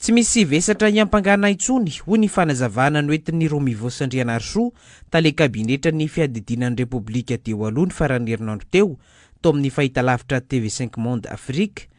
Tsy misy vesatra hiampangana intsony, hoy ny fanazavana noentin'i Romivost Randrianarisoa, tale kabinetran'ny fiadidiana ny Repoblika teo aloha ny faran'ny herinandro teo, tao amin'ny fahitalavitra TV Cinq Monde Afrique.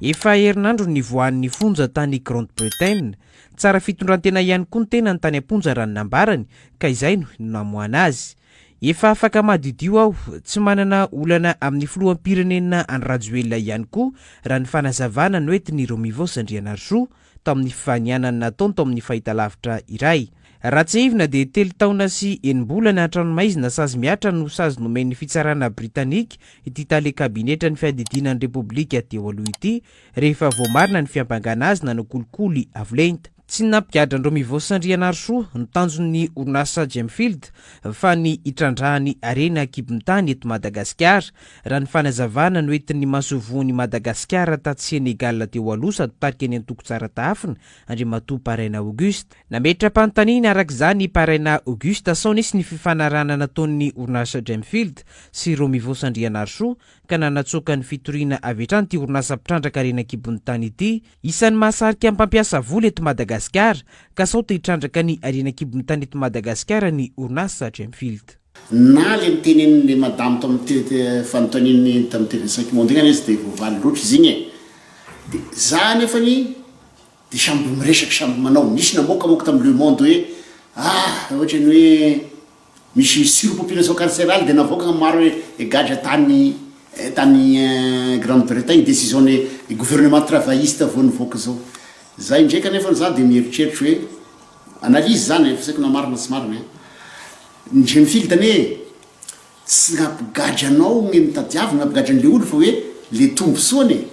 Efa herinandro no nivoahan'ny fonja tany Grande-Bretagne. Tsara fitondrantena ihany koa ny tenany tany am-ponja raha ny nambarany, ka izay no namoahana azy. Efa afaka madiodio aho, tsy manana olana amin'ny filoham-pirenena Andry Rajoelina ihany koa raha ny fanazavana noentin'i Romivos Andrianarisoa tao amin'ny fifanianana nataony tao amin'ny fahitalavitra iray. Raha tsiahivina dia telo taona sy enim-bolana an-tranomaizina sazy mihatra no sazy nomen'ny fitsarana Britanika ity tale kabinetra ny fiadidiana ny Repoblika teo aloha ity rehefa voamarina ny fiampangana azy nanao kolikoly avo lenta. Tsy ny nampigadran-dry Mivosa Andrianarisoa no tanjon'ny orinasa Gemfield fa ny hitrandrahany harena an-kibon-tany eto Madagasikara, raha ny fanazavana noentin'ny masoivohon'i Madagasikara tatsy Sénégal teo aloha sady tarika ny antoko Tsara Tahafina, Andriamatoa Paraina Auguste. Nametra-panontaniana araka izany i Paraina Auguste sao nisy ny fifanarahana nataon'ny orinasa Gemfield sy Ro Mivosa Andrianarisoa ka nanatsoaka ny fitoriana avy hatrany ity orinasa mpitrandraka harena an-kibon'ny tany ity Isan'ny mahasarika ny mpampiasa vola eto Madagasikara ka sao te hitrandraka ny harena an-kibon'ny tany eto Madagasikara ny orinasa Gemfield. Na ilay notenenin'ilay madame tao amin'ny fanontaniany tamin'ny TV cinq monde iny ary izy dia voavaly loatra izy iny e! Dia za anefany dia samby miresaka samby manao, nisy namoakamoaka tamin'ny Le Monde hoe ah raha ohatra ny hoe. Misy sur population carcérale dia navoaka ny maro e gadra tany tany grande bretagne decision ny gouvernement travailliste vao nivoaka zao za indray kanefa za dia mieritreritra hoe analyse zany e fa tsy haiko na marina na tsy marina e ny jeune fille tane e tsy ny hampigadra anao no tadiavina hampigadra anle olo fa hoe le tombosoany e.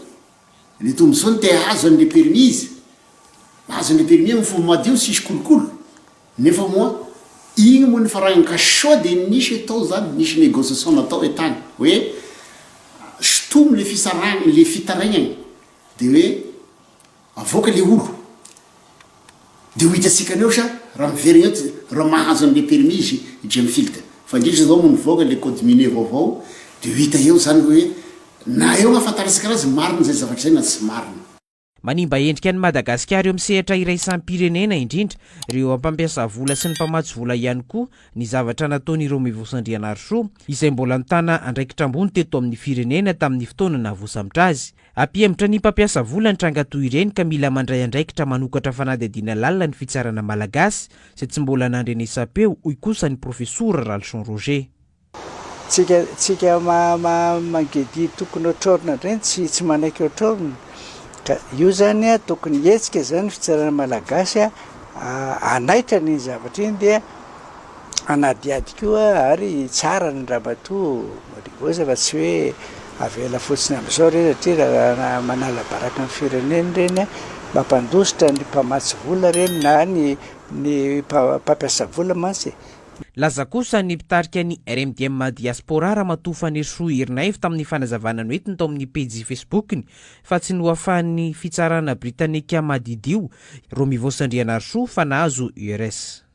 Ny tombontsoa no te hahazo an'i le permis izy, mahazo an'le permis amin'ny fomba madio tsisy kolokolo, nefa moa iny moa nifaragny ka sao de nisy hoe tao zany nisy negociation natao hoe tany hoe sotomy le fisarahagny le fitaraignagne de hoe avoaka le olo Dia ho hitantsika anio sa raha miverina eto raha mahazo an'ilay permis izy i Jim Field. Fa indrindra izao moa nivoaka ilay code minier vaovao dia ho hita eo izany hoe na eo ahafantarantsika anazy marina izay zavatra izay na tsy marina. Manimba endrika an'i Madagasikara eo amin'ny sehatra iraisam-pirenena indrindra ireo eo am-pampiasa vola sy ny mpamatsy vola ihany koa ny zavatra nataon'ireo Mivos Andrianarisoa izay mbola nitana andraikitra ambony teto amin'ny firenena tamin'ny fotoana nahavosambotra azy. Hampihemotra ny mpampiasa vola ny tranga toy ireny ka mila mandray andraikitra manokatra fanadihadiana lalina ny fitsarana malagasy izay tsy mbola nandrenesam-peo, hoy kosa ny profesora Ralison Roger. Tsika tsika mangidia tokony otrorina indray no tsy manaiky otrorina ka io zany a tokony hetsika zany fitsarana malagasy a hanaitra an'iny zavatra iny dia hanadihady koa ary tsara ny ramatoa Marigosa fa tsy hoe avela fotsiny amin'izao ireny satria raha manala baraka ny firenena ireny mampandositra ny mpamatsy vola ireny na ny ny mpampiasa vola mantsy e. Nilaza kosa ny mpitarika ny RMDM Diaspora Ramatoa Fanirisoa Erinaivo tamin'ny fanazavana noentiny tao amin'ny pejy Facebook-ny fa tsy nohafahan'ny fitsarana Britanika madidio Romivosa Andrianarisoa fa nahazo URS.